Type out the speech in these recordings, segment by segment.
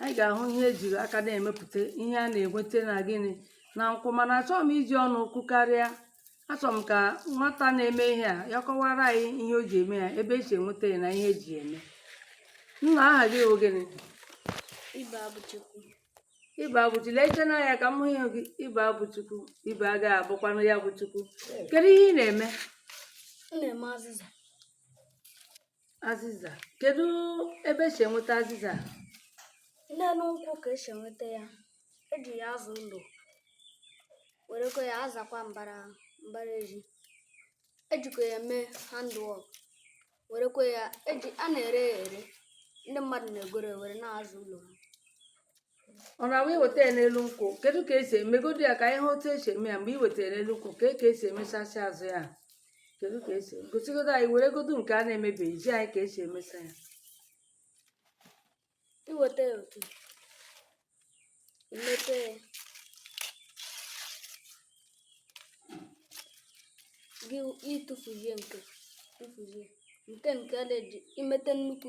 anyị ga-ahụ ihe ejiri aka na-emepụta ihe a na-enweta na gịnị na nkwụ mana achọghị m iji ọnụ kwukarịa achọrọ m ka nwata na-eme ihe a ya kọwara anyị ihe o ji eme ya ebe esi enweta ya na ihe eji eme nna aha gị bụ gịnị ibe abụchukwu ibe abụchukwu leche n'anya ka m hụ ihu gị ibe abụchukwu ibe agaghị abụkwanụ ya bụ chukwu kedu ihe ị na-eme m na-eme azịza azịza kedu ebe esi enweta azịza n'elu nkwụ ka esi enweta ya eji ya aza ụlọ werekwa ya azakwa mbara mbara ezi ejikwa ya eme handwork werekwa ya eji a na-ere ya ere ndị mmadụ na-egoro were na-aza ụlọ ha ọ na-abụ iweta ya n'elu nkwụ kedu ka esi emegodu ya ka anyị hụ otu esi eme ya mgbe i wetara n'elu nkwụ ka ka esi emechasị azụ ya kedu ka esi gosigodu anyị weregodu nke a na-emebeghị zi anyị ka esi emesa ya iweta ya otu a i mepe ya gị ịtụfuzie nke tụfuzie nke nke dị imete nnukwu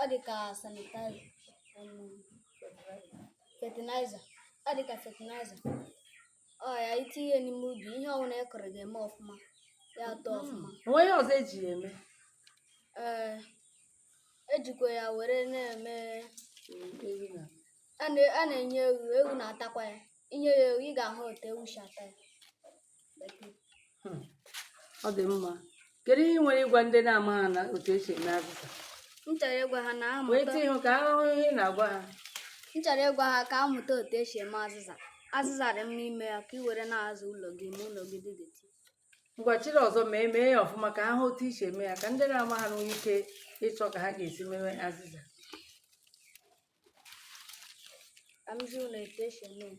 ọ dị ka sanitizer fertilizer ọ dị ka fertilizer ọ ya i tinye n'ime ubi ihe ọbụla ị kụrụ ga-eme ọfụma ya eto hmm. ọfụma o nwere ihe ọzọ eji ya eme ee ejikwa ya were na-eme a na-enye ewu ewu na-atakwa ya i nye ya ewu ị ga-ahụ otu ewu si ata ya hmm. ọ dị mma kedu ihe i nwere ịgwa ndị na-amaha na otu esi eme azịza m chọrọ ịgwa ha na amụta wee tinye ka a hụ ihu gị na-agwa ha m chọrọ ịgwa ha ka ha mụta otu esi eme azịza azịza dị mma ime ya ka ị were na-aza ụlọ gị ma ụlọ gị dị dirty ngwa chiri ọzọ ma emee ya ọfụma ka ha hụ otu i si eme ya ka ndị na-amaha nwee ike ịchọ ka ha ga-esi mewe azịza ka m zi ụnụ etu esi eme ya.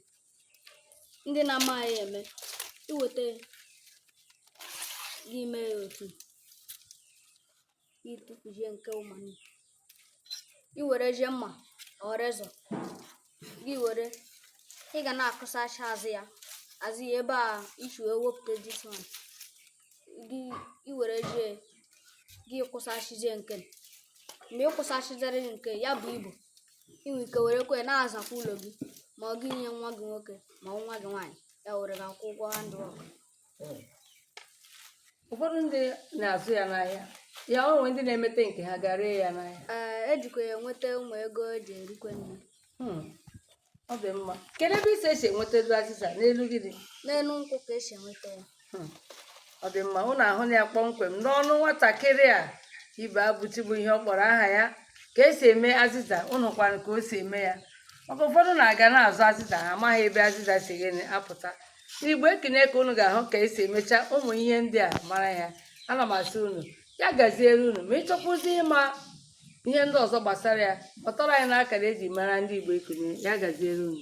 ndị na-amaghị ya eme iweta ya gị mee ya otu a ịtụfuzie nke ụmụnne i werezie mma or razor gị were ị ga na-akụsacha azụ ya azụ ya ebe a i si wee wepụta this one gị i werezie gị kụsashizie nke mgbe ị kụsashiziri nke ya bụ ibu i nwee ike werekwa ya na-azakwa ụlọ gị ma ọ gị nye nwa gị nwoke ma nwa gị nwaanyị ya were gaa kwụọ ụgwọ handwork ụfọdụ ndị na-azụ ya n'ahịa ya o nwere ndị na-emete nke ha gaa ree ya n'ahịa ee ejikwa ya enweta ụmụ ego eji erikwe nri hmm. ọ dị mma kedu ebe isi esi enwetanụ azịza n'elu gịnị n'elu nkwụ ka esi enweta ya Hmm. ọ dị mma ụnụ ahụna ya kpọmkwem n'ọnụ nwatakịrị a Ibeabụchi bụ ihe ọ kpọrọ aha ya ka esi eme azịza ụnụ hụkwara ka o si eme ya maka ụfọdụ na-aga na-azụ azịza ha amaghị ebe azịza si gịnị apụta n'Igbo Ekunie ka ụnụ ga-ahụ ka esi emecha ụmụ ihe ndị a mara ya ana m asị ụnụ ya gaziere ụnụ ma ịchọkwuzi ịma ihe ndị ọzọ gbasara ya kpọtụrụ anyị n'akara eji mara ndị Igbo Ekunie ya gaziere unu